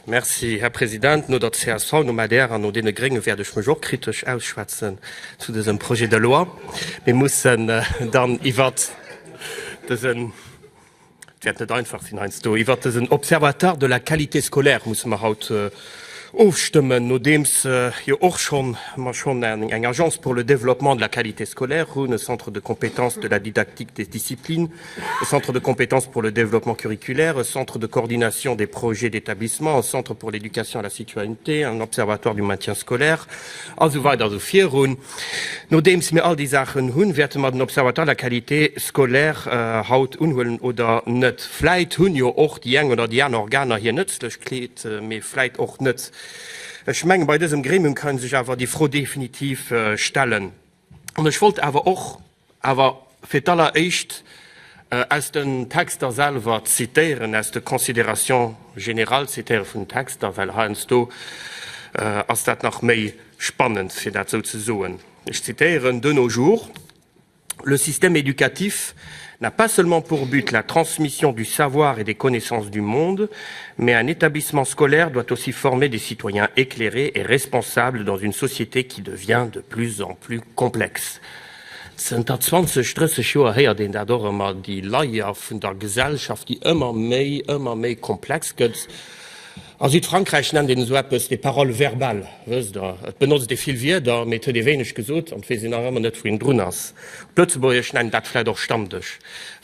Merci, Här President. No der csv, nom adr an no deene Grénge wäert ech mech och kritesch ausschwätzen zu dësem Projet de loi. Mir mussen dann iwwer dësen, et wäert net einfach sinn heiansdo, iwwer dësen Observatoire de la qualité scolaire musse mer haut ofstëmmen, nodeems jo och schonn mer schonn eng Agence pour le développement de la qualité scolaire hunn, e Centre de compétences de la didactique des disciplines, e Centre de compétences pour le développement curriculaire, e Centre de coordination des projets d'établissement, e Centre pour l'éducation à la citoyenneté, en Observatoire du maintien scolaire a sou weider a sou virun. Nodeems mir all déi Saachen hunn, wäerte mer den Observatoire de la qualité scolaire haut unhuelen oder net? Vläit hunn jo och déi eng oder déi aner Organer hir Nëtzlechkeet, mee vläit och net. Ech mengen, bei dësem Gremium kann sech awer déi Fro definitiv stellen. An ech wollt awer och. Awer fir d'alleréischt aus den Texter selwer zitéieren, aus de Considérations générales zitéiere vun den Texter, well heiansdo ass dat nach méi spannend, fir dat esou ze soen. Ech zitéieren, De nos jours, le système éducatif n'a pas seulement pour but la transmission du savoir et des connaissances du monde, mais un établissement scolaire doit aussi former des citoyens éclairés et responsables dans une société qui devient de plus en plus complexe. Zënter 20, 30 Joer héiert een dat och ëmmer, déi Layer vun der Gesellschaft, déi ëmmer méi, ëmmer méi komplex gëtt. A Südfrankräich nennt een esou eppes des paroles verbales, wësst Der, et benotzt ee vill Wierder, mee et huet ee wéineg gesot an et weess een nach ëmmer net, wou een drun ass. Op Lëtzebuergesch nennt een dat vläicht och Stammdësch.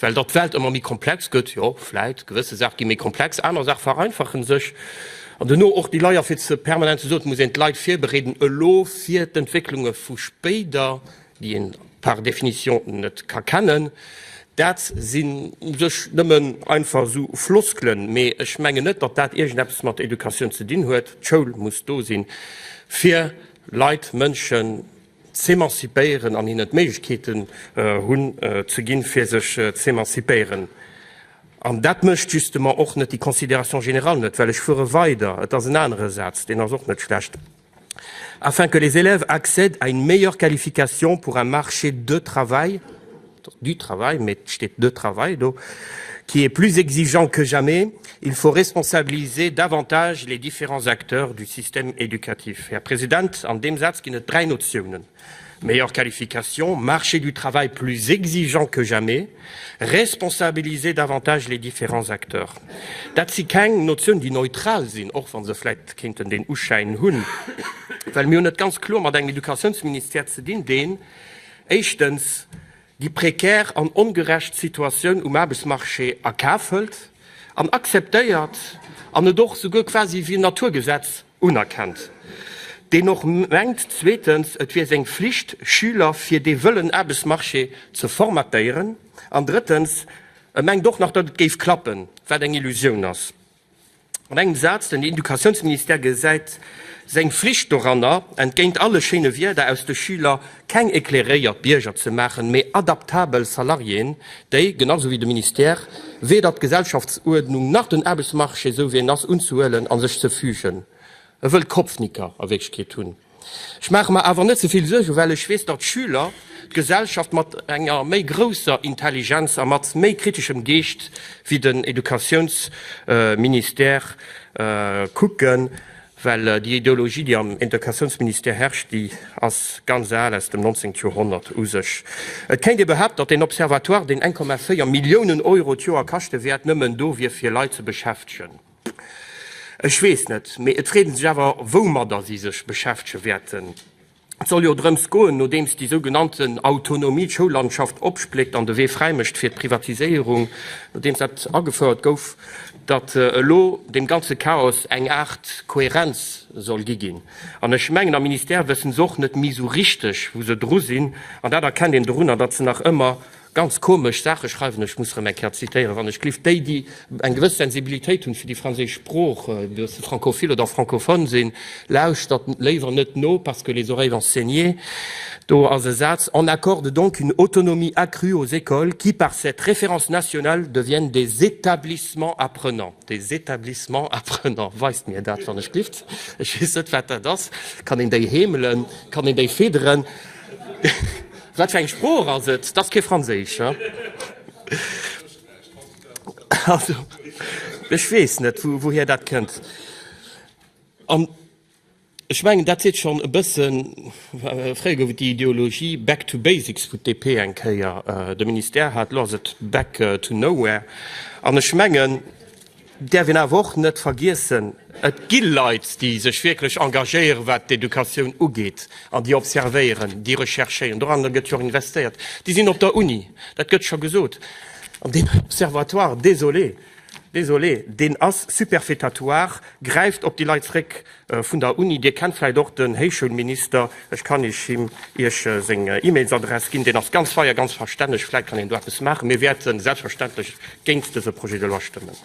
Well datt d'Welt ëmmer méi komplex gëtt, jo, vläicht, gewësse Saache gi méi komplex, aner Saache vereinfache sech. An dono och déi Leier, fir ze permanent ze soen, et muss een d'Leit virbereeden elo fir d'Entwécklunge vu spéider, déi een par définition net ka kennen. Dat sinn u sech nëmmen einfach esou Floskelen, mee ech mengen net, datt dat iergendeppes mat Educatioun ze dinn huet. D'Schoul muss do sinn, fir Leit, Mënschen, z'emanzipéieren an hinnen d'Méiglechkeeten hunn ze ginn, fir sech z'emanzipéieren. An dat mécht justement och net déi Considération générale net, well ech fuere weider, et ass en anere Saz, deen ass och net schlecht, afin que les élèves accèdent à une meilleure qualification pour un marché de travail, du travail, mee et steet de travail do, qui est plus exigeant que jamais, il faut responsabiliser davantage les différents acteurs du système éducatif. Här President, an deem Saz ginn et dräi Notiounen, meilleure qualification, marché du travail plus exigeant que jamais, responsabiliser davantage les différents acteurs. Dat si keng Notiounen, déi neutral sinn, och wa se vläicht kéinten deen Uschäin hunn, well mir hunn et ganz kloer mat engem Educatiounsministère ze dinn, deen, Éischtens, déi prekär an ongerecht Situatioun um Aarbechtsmarché a Kaf hëlt an akzeptéiert an et och souguer quasi wéi en Naturgesetz unerkennt, deen och mengt, zweetens, et wier seng Flicht, Schüler fir dee wëllen Aarbechtsmarché ze formatéieren an, drëttens, e mengt och nach, datt et géif klappen, wat eng Illusioun ass. An engem Saz, Den Educatiounsministère gesäit seng Flicht doranner, entgéint alle schéine Wierder, aus de Schüler keng éclairéiert Bierger ze maachen, mee adaptabel Salariéen, déi, genau esou wéi de Ministère, weder d'Gesellschaftsuerdnung nach den Aarbechtsmarché, esou wéi en ass, unzehuelen a sech ze fügen. E wëll Kopfnicker a Wierklechkeet hunn. Ech maache mer awer net ze vill Suergen, well ech weess, datt d'Schüler d'Gesellschaft mat enger méi grousser Intelligenz a mat méi kriteschem Geescht wéi den Educatiounsministère kucken, well déi Ideologie, déi am Educatiounsministère herrscht, déi ass ganz al, aus dem 19. Joerhonnert u sech. Et kéint ee behaapten, datt deen Observatoire, deen 1,4 Milliounen Euro d'Joer kaschte wäert, nëmmen do wier, fir Leit ze beschäftegen. Ech weess net, mee et freet een sech awer, woumadder si sech beschäftege wäerten. Et soll jo drëms goen, nodeems déi sou genannten Autonomie d'Schoullandschaft opspléckt an de Wee fräi mécht fir d'Privatiséierung, nodeems dat agefouert gouf, datt elo deem ganze Chaos eng Aart Kohärenz soll gi ginn. An ech mengen am Ministère wëssen se och net méi sou richteg, wou se dru sinn. An dat erkennt een dorunner, datt se nach ëmmer Ganz komesch Saache schreiwen, ech muss erëm eng Kéier zitéieren, wann ech glift, déi, déi eng gewëss Sensibilitéit hunn fir déi franséisch Sprooch, ob se francophile oder francophone sinn, lauschtert léiwer net no, parce que les oreilles vont saigner. Do ass e Saz, On accorde donc une autonomie accrue aux écoles qui, par cette référence nationale, deviennent des établissements apprenants. Des établissements apprenants, weist mir dat, wann ech glift. Ech weess net, wat dat ass. Kann een déi heemelen? Kann een déi fidderen? Wat fir eng Sprooch ass et? T'ass kee Franséisch, hä? Also, ech weess net, wouhir dat kënnt. An ech mengen, dat seet schonn e bëssen. Fréier gouf et déi Ideologie Back to basics vun d'DP eng Kéier. De Ministère hat, elo ass et back to nowhere. An ech mengen. Däerf een awer och net vergiessen, et gi Leit, déi sech wierklech engagéieren, wat d'Educatioun ugeet, an déi observéieren, déi recherchéieren. Doranner gëtt jo och investéiert. Déi sinn op der Uni, dat gëtt scho gesot. An deen Observatoire, désolé, désolé, deen ass superfétatoire, gräift op déi Leit zréck, Vun der Uni, Dir kennt vläicht och den Héichschoulminister, ech kann Iech him Iech seng E-Mailsadress ginn, deen ass ganz fei a ganz verstänneg, vläicht kann een do eppes maachen. Mir wäerte selbstverständlech géint dëse Projet de loi stëmmen.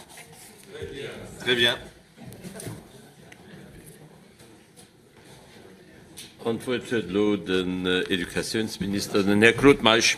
An d'Wuert huet elo den Educatiounsminister, den Här Claude Meisch.